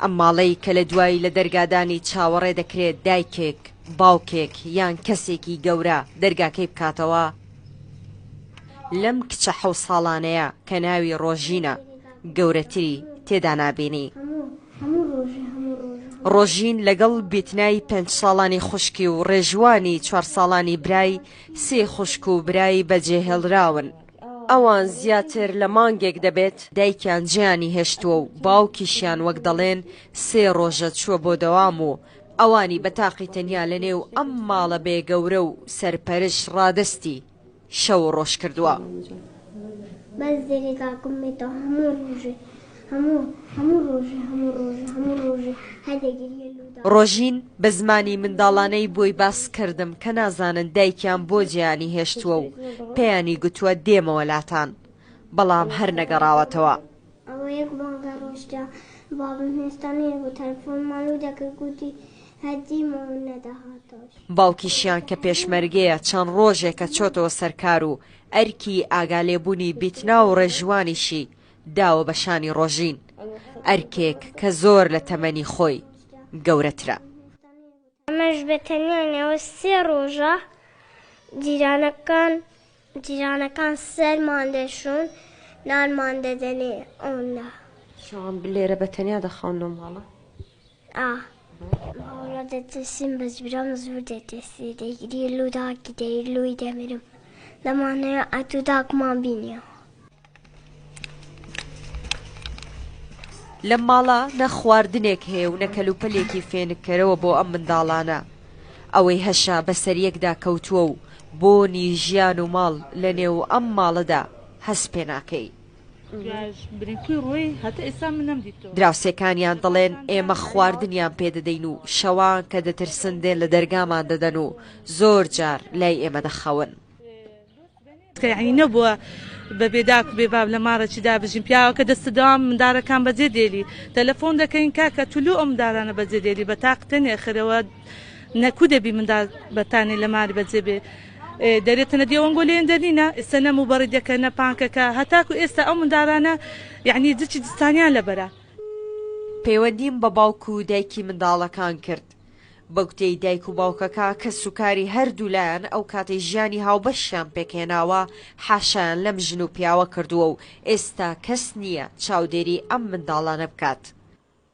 ئەم ماڵەی کە لە دوای لە دەرگادانی چاوەڕێ دەکرێت دایکێک، باوکێک یان کەسێکی گەورە دەرگاکەی بکاتەوە، لەم کچە حەو ساڵانەیە کە ناوی ڕۆژینە گەورەتری تێدا نابینی. ڕۆژین لەگەڵ بیتنای پێنج ساڵانی خوشکی و ڕێژوانی چوار ساڵانی برای سێ خوشک و برای بەجێهێڵراون. ئەوان زیاتر لە مانگێک دەبێت دایکیان جێیانی هێشتووە و باوکیشیان وەک دەڵێن سێ ڕۆژە چووە بۆ دەوام و ئەوانی بە تاقی تەنیا لە نێو ئەم ماڵە بێ گەورە و سەرپەرش ڕادەستی شەو و ڕۆژ کردووە. هەموو هەموو ڕۆژی هەموو ڕۆژی هەموو ڕۆژی هەر دەگریە لودا. ڕۆژین بە زمانی منداڵانەی بۆی باس کردم کە نازانن دایکیان بۆ جێیانی هێشتووە و پێیانی گوتووە دێمەوە لاتان بەڵام هەر نەگەڕاوەتەوە. ئەوە یەک مانگە ڕۆشتە بابم هێستا نەیەبوو تەلەفۆنمان لو دەکرد گوتی هەر دیمەوە نەدەهاتەوە. باوکیشیان کە پێشمەرگەیە چەند ڕۆژێکە چۆتەوە سەر کار و ئەرکی ئاگالێبوونی بیتنا و ڕێژوانیشی داوە بە شانی ڕۆژین، ئەرکێک کە زۆر لە تەمەنی خۆی گەورەترە. ئەمەش بە تەنیا نێوە سێ ڕۆژە جیرانەکان جیرانەکان سەرمان دەشۆن، نانمان دەدەنێ. ئۆنلا. شەوان بلێرە بە تەنیا دەخەون لەو ماڵە. ئا هاوڕا دەترسیم بەس برام زور دەترسی دەیگری لو داکی دەیر لوی دەمرم دەمانەوێ ئەتو داکمان بینیەوە. لەم ماڵە نە خواردنێک هەیە و نە کەلوپەلێکی فێنککەرەوە بۆ ئەم منداڵانە ئەوەی هەشە بەسەریەکدا کەوتووە و بۆنی ژیان و ماڵ لەنێو ئەم ماڵەدا هەست پێناکەی دراوسێکانیان دەڵێن ئێمە خواردنیان پێ دەدەین و شەوان کە دەترسن دێن لە دەرگامان دەدەن و زۆر جار لای ئێمە دەخەون. تکایە نەبووە بەبێ داک و بێ باب لە ماڕێکیدا بژین پیاوەکە دەست داوام مندارەکان بەجێ دێلی تەلەفۆن دەکەین کاکە تولو ئەم دارانە بەجێ دێلی بە تاقتە نێخەرەوە نەکو دەبی مندار بەتانێ لە مار بەجێ بێ دەرێتە نە دێوەنگۆ لێێن دەرنینە ئێستا نە موبەڕیدەکە نە پانکەکە هەتاکو ئێستا ئەو مندارانە یعنی جچی جستانیان لەبەرە. پەیوەندیم بە باوک و دایکی منداڵەکان کرد بە گوتەی دایک و باوکەکە کەس و کاری هەردوولایان ئەو کاتەی ژیانی هاوبەشیان پێکهێناوە حاشایان لەم ژن و پیاوە کردووە و ئێستا کەس نییە چاودێری ئەم منداڵانە بکات.